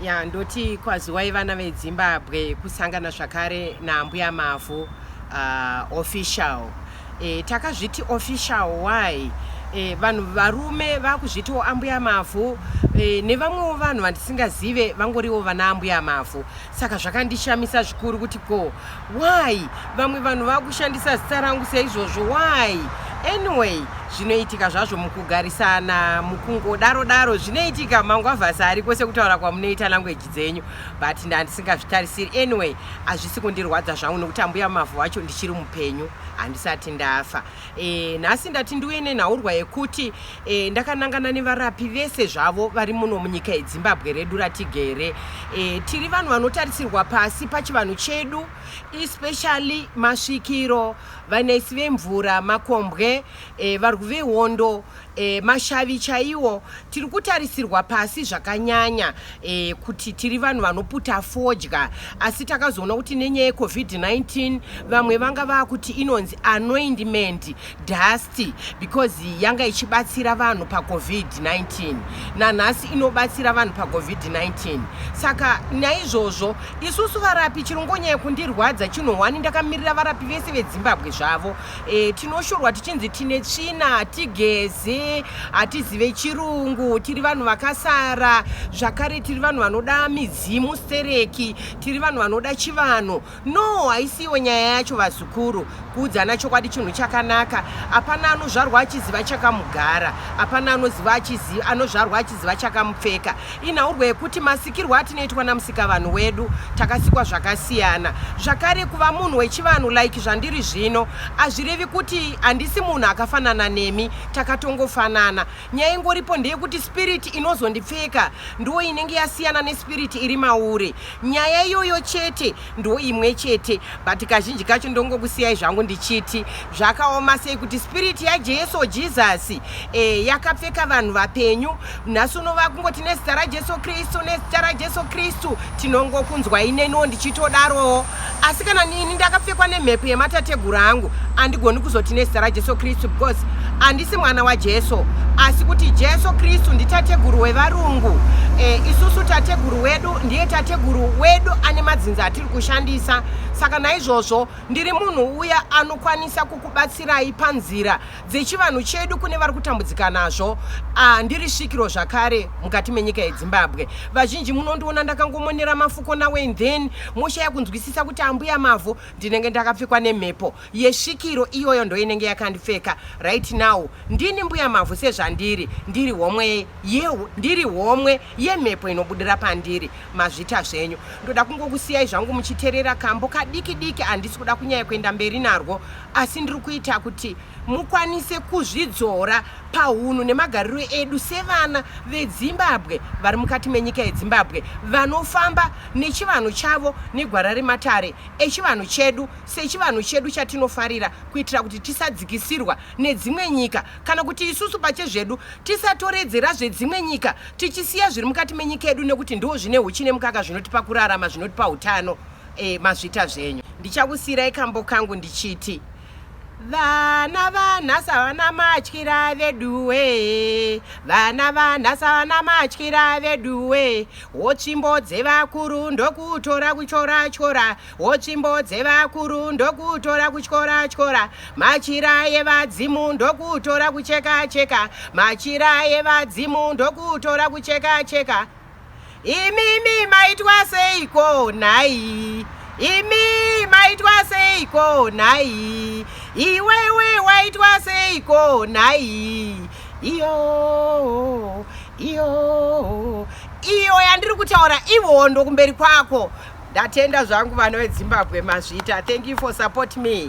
ya ndoti kwaziwai vana vedzimbabwe kusangana zvakare naambuya mavhu uh, official e, takazviti official why e, vanhu varume vakuzvitiwo ambuya mavhu e, nevamwewo vanhu vandisingazive vangoriwo vana ambuya mavhu saka zvakandishamisa zvikuru kuti ko Why vamwe vanhu vakushandisa zita rangu seizvozvo why? Anyway, zvinoitika zvazvo mukugarisana mukungodaro daro zvinoitika mangwavhasi ariko sekutaura kwamunoita language dzenyu but ndandisingazvitarisiri anyway hazvisi kundirwadza zvangu nokuti ambuya mavhu wacho ndichiri mupenyu handisati ndafa e, nhasi ndati ndiuye nenhaurwa yekuti E, ndakanangana nevarapi vese zvavo vari muno munyika yedzimbabwe redu ratigere e, tiri vanhu vanotarisirwa pasi pachivanhu chedu especially masvikiro vanaisi vemvura makombwe e, varwi vehondo e, mashavi chaiwo tiri kutarisirwa pasi zvakanyanya e, kuti tiri vanhu vanoputa fodya asi takazoona kuti nenyaya yecovid-19 vamwe vanga vava kuti inonzi anoindment dust because yanga ichibatsira vanhu pacovid-19 nanhasi inobatsira vanhu pacovid-19 saka naizvozvo isusu varapi chirongonyaya kundirwadza chinhu hwani ndakamirira varapi vese vedzimbabwe zvavo e, tinoshorwa tichinzi tine tsvina hatigeze hatizive chirungu tiri vanhu vakasara zvakare tiri vanhu vanoda midzimu stereki tiri vanhu vanoda chivanhu No, haisiwo nyaya yacho vazukuru. Kuudzana chokwadi chinhu chakanaka. Hapana anozvarwa achiziva chakamugara. Hapana anoziva achiziva anozvarwa achiziva chakamupfeka. Inhaurwa yekuti masikirwo atinoitwa namusikavanhu wedu takasikwa zvakasiyana. Zvakare kuva munhu wechivanhu like zvandiri zvino hazvirevi kuti handisi munhu akafanana nemi. Takatongofanana. Nyaya ingoripo ndeyekuti spirit inozondipfeka ndiwo inenge yasiyana nespirit iri mauri. Nyaya iyoyo chete ndo imwe chete but kazhinji kacho ndongokusiyai zvangu ndichiti zvakaoma sei kuti spirit yajesu jesus e, yakapfeka vanhu vapenyu nhasi uno vakungoti nezita rajesu kristu nezita rajesu kristu tinongokunzwai neniwo ndichitodarowo asi kana nini ndakapfekwa nemhepo yematateguru angu andigoni kuzoti nezita rajesu kristu because handisi mwana wajesu asi kuti jesu kristu nditateguru wevarungu e, isusu tateguru wedu ndiye tateguru wedu ane madzinza atiri kushandisa saka naizvozvo ndiri munhu uya anokwanisa kukubatsirai panzira dzechivanhu chedu kune vari kutambudzika nazvo ah, ndiri svikiro zvakare mukati menyika yedzimbabwe vazhinji munondiona ndakangomonera mafuko nawen then moshaya kunzwisisa kuti ambuya mavo ndinenge ndakapfekwa nemhepo yesvikiro iyoyo ndoinenge yakandipfeka right now ndini mbuya mavo sezvandiri ndiri homwe yehu ndiri homwe yemhepo inobudira pandiri mazvita zvenyu ndoda kungokusiyai zvangu muchiterera kambo kadiki diki handisi kuda kunyaya kuenda mberi narwo asi ndiri kuita kuti mukwanise kuzvidzora pahunhu nemagariro edu sevana vedzimbabwe vari mukati menyika yedzimbabwe vanofamba nechivanhu chavo negwara rematare echivanhu chedu sechivanhu chedu chatinofarira kuitira kuti tisadzikisirwa nedzimwe nyika kana kuti isusu pachezvedu tisatoredzera zvedzimwe nyika tichisiya zviri mukati menyika yedu nekuti ndiwo zvine huchi nemukaka zvinotipa kurarama zvinotipa utano Eh, mazvita zvenyu ndichakusiirai kambo kangu ndichiti vana vanhasi havana matyira veduwe vana vanhasi havana matyira veduwe wotsvimbo dzevakuru ndokutora kutyora tyora wotsvimbo dzevakuru ndokutora kutyora tyora machira yevadzimu ndokutora kucheka cheka machira yevadzimu ndokutora kucheka cheka imimi maitwa seiko nhai imi maitwa seiko nhai iwewe waitwa seiko nhai iyo iyo iyo yandiri kutaura ihondo kumberi kwako ndatenda zvangu vana vedzimbabwe mazvita thank you for support me